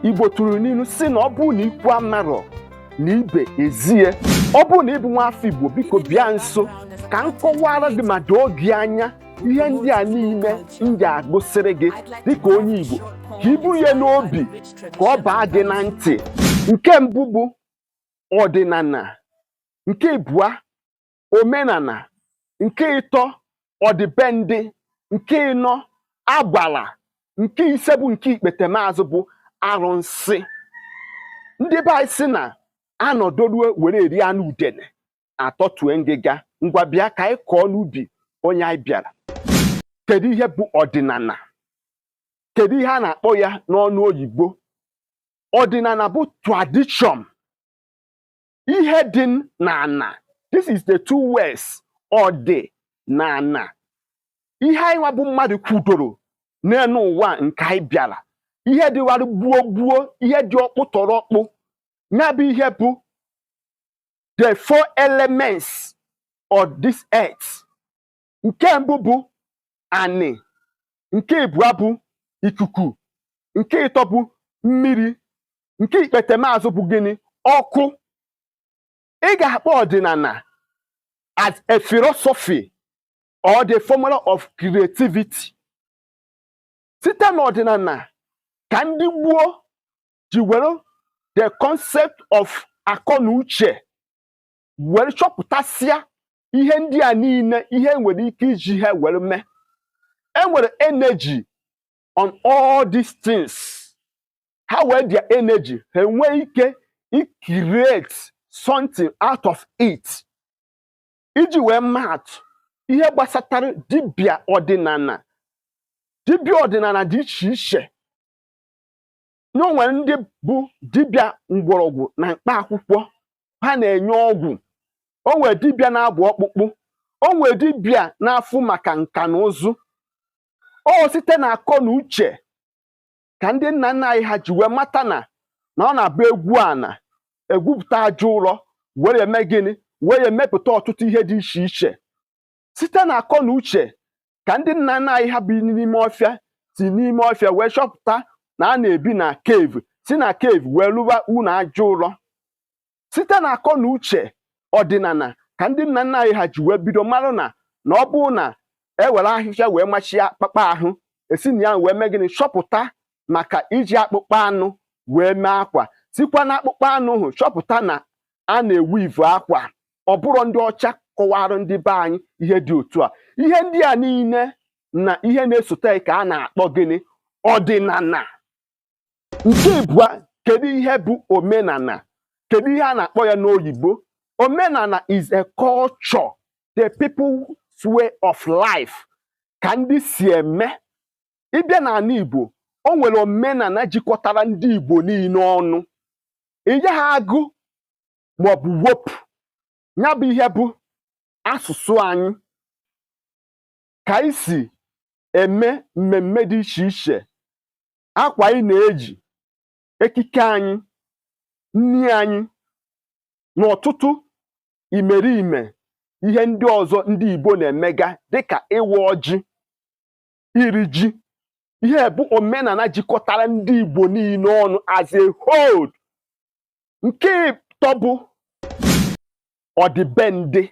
igbo tụrụ n'inu sị na ọ bụrụ na ikwu amarọ na ibe ezie ọ bụrụ na ị bụ nwa afọ igbo biko bịa nso ka m kọwaara gị ma doo gị anya ihe ndị a niile m ga-agụsịrị gị dịka onye igbo ka i buru ya n'obi ka ọ baa gị na ntị nke mbụ bụ ọdịnana nke ịbụa omenana nke ịtọ ọdịbendị nke ịnọ agbara nke ise bụ nke ikpete maazụ bụ arụnsị ndị be anyị sị na a nọdụruo were eri anụ udene a tọtue ngịga ngwa bịa ka anyị kọọ n'ubi onye anyị bịara kedu ihe bụ ọdịnana kedu ihe a na-akpọ ya n'ọnụ oyibo ọdịnana bụ tradition ihe dị n'ana this is the two words ọ dị n'ana ihe anyị nwa bụ mmadụ kwudoro n'enu ụwa nke anyị bịara ihe dịwara gboo gboo ihe dị ọkpụ tọrọ ọkpụ ya bụ ihe bụ the four elements of this earth nke mbụ bụ anị nke ịbụa bụ ikuku nke ịtọ bụ mmiri nke ikpete maazụ bụ gịnị ọkụ ị ga-akpọ ọdịnana as a philosophy or the formula of creativity site n'ọdịnana ka ndị gboo ji were the concept of akọ na uche were chọpụtasịa ihe ndị a niile ihe e nwere ike iji ha were mee e nwere energy on all these things ha wee their energy ha enwee ike create something out of it iji wee maatụ ihe gbasatara dibịa ọdịnana dibịa ọdịnana dị iche iche na o nwere ndị bụ dibịa mgbọrọgwụ na mkpa akwụkwọ ha na-enye ọgwụ o nwere dibịa na-agba ọkpụkpụ o nwere dibịa na-afụ maka nka na ụzụ ọ site na akọ na uche ka ndị nna nna anyị ha ji wee mata na na ọ na-abụ e gwuo ana e gwupụta aja ụrọ were eme gịnị were emepụta ọtụtụ ihe dị iche iche site na akọ na uche ka ndị nna nna anyị ha bi n'ime ọfịa si n'ime ọfịa wee chọpụta na a na-ebi na cave si na cave wee lụba ụnọ aja ụlọ site na akọ na uche ọdịnana ka ndị nna nna anyị ha ji wee bido marụ na na ọ bụrụ na e were ahịhịa wee machie akpụkpọ ahụ e si na ya wee mee gịnị chọpụta maka iji akpụkpọ anụ wee mee akwa sikwa na akpụkpọ anụ ahụ chọpụta na a na-eweave akwa ọ bụrọ ndị ọcha kọwara ndị be anyị ihe dị otu a ihe ndị a niile na ihe na-esote ka a na-akpọ gịnị ọdịnala nke ịbụa kedu ihe bụ omenala kedu ihe a na-akpọ ya n'oyibo omenala is a culture the people's way of life ka ndị si eme ị bịa n'ala Igbo o nwere omenala jikọtara ndị Igbo niile ọnụ ị gaghị agụ ma ọ bụ wepụ ya bụ ihe bụ asụsụ anyị ka anyị si eme mmemme dị iche iche akwa anyị na-eji ekike anyị nri anyị na ọtụtụ imerime ihe ndị ọzọ ndị Igbo na-emega dịka ịwa ọjị iri ji ihe a bụ omenala jikọtara ndị Igbo niile ọnụ as a whole nke ịtọ bụ ọdịbendị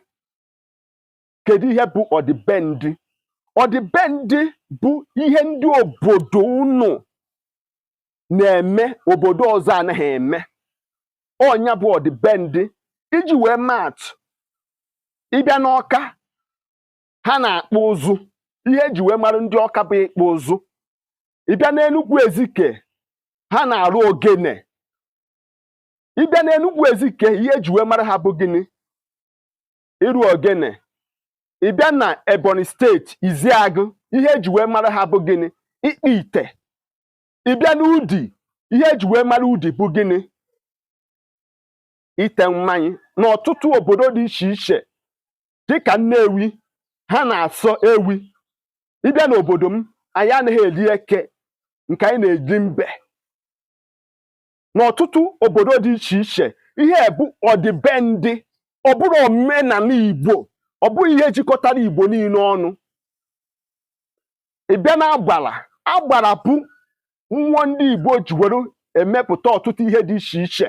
kedu ihe bụ ọdịbendị ọdịbendị bụ ihe ndị obodo unu na-eme obodo ọzọ anaghị eme ọ nya bụ ọdịbendị iji wee maa atụ ị bịa n'Ọka ha na-akpụ ụzụ ihe e ji wee mara ndị Ọka bụ ịkpụ ụzụ ị bịa n'Enugwu Ezike ha na-arụ ogene ị bịa n'Enugwu Ezike ihe e ji wee mara ha bụ gịnị ịrụ ogene ị bịa na Ebonyi steeti Ishiagụ ihe e ji wee mara ha bụ gịnị ịkpụ ite ị bịa n'Udi ihe e ji wee mara Udi bụ gịnị ite mmanya n'ọtụtụ obodo dị iche iche dịka Nnewi ha na-asọ ewi ị bịa n'obodo m anyị anaghị eri eke nke anyị na-eri mbe n'ọtụtụ obodo dị iche iche ihe bụ ọdịbendị ọ bụrọ omenala Igbo ọ bụghị ihe jikọtara Igbo niile ọnụ ị bịa na agbara agbara bụ mmụọ ndị Igbo ji were emepụta ọtụtụ ihe dị iche iche